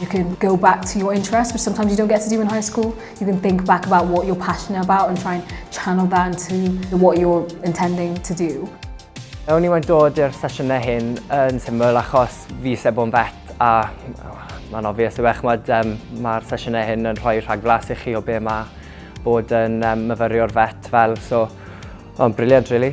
You can go back to your interests, which sometimes you don't get to do in high school. You can think back about what you're passionate about and try and channel that into what you're intending to do. Ewn ni wedi dod i'r sesiynau hyn yn syml achos fi eisiau bod yn vet a mae'n obvious yw eich mod um, mae'r sesiynau hyn yn rhoi rhagflas i chi o be mae bod yn um, myfyrio'r vet fel so mae'n briliant really.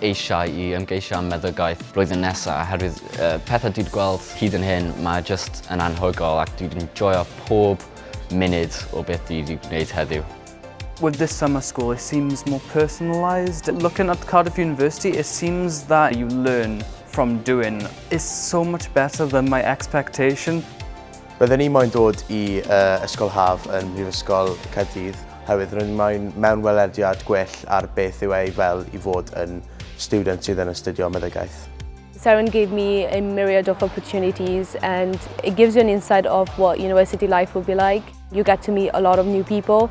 eisiau i ymgeisio am meddygaeth blwyddyn nesa oherwydd y pethau dwi 'di gweld hyd yn hyn mae jyst yn anhygoel ac dwi 'di joio pob munud o beth dwi 'di gwneud heddiw. With this summer school it seems more personalised, looking at Cardiff University it seems that you learn from doing, it's so much better than my expectation. Roedden ni moyn dod i uh, Ysgol Haf yn Mhrifysgol Caerdydd oherwydd roedden ni moyn mewn welediad gwell ar beth yw ei fel i fod yn student sydd yn astudio meddygaeth. Seren gave me a myriad of opportunities and it gives you an insight of what university life will be like. You get to meet a lot of new people,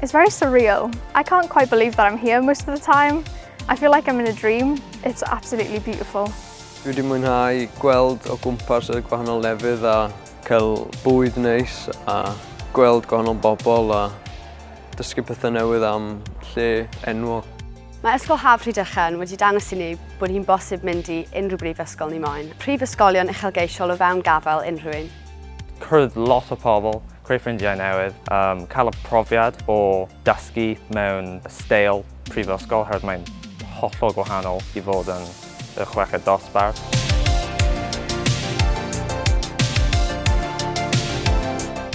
It's very surreal. I can't quite believe that I'm here most of the time. I feel like I'm in a dream. It's absolutely beautiful. Dwi wedi mwynhau gweld o gwmpas y gwahanol lefydd a cael bwyd neis a gweld gwahanol bobl a dysgu pethau newydd am lle enwog. Mae Ysgol Haf Rhydychen wedi dangos i ni bod hi'n bosib mynd i unrhyw brifysgol ni moyn. Prifysgolion uchelgeisiol o fewn gafael unrhyw un. Cwrdd lot o pobl. Creu ffrindiau newydd, um, cael y profiad o dysgu mewn steil prifysgol, herwydd mae'n hollol gwahanol i fod yn y chweched dosbarth.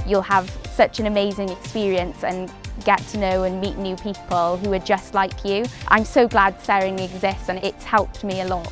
you'll have such an amazing experience and get to know and meet new people who are just like you. I'm so glad Sering exists and it's helped me a lot.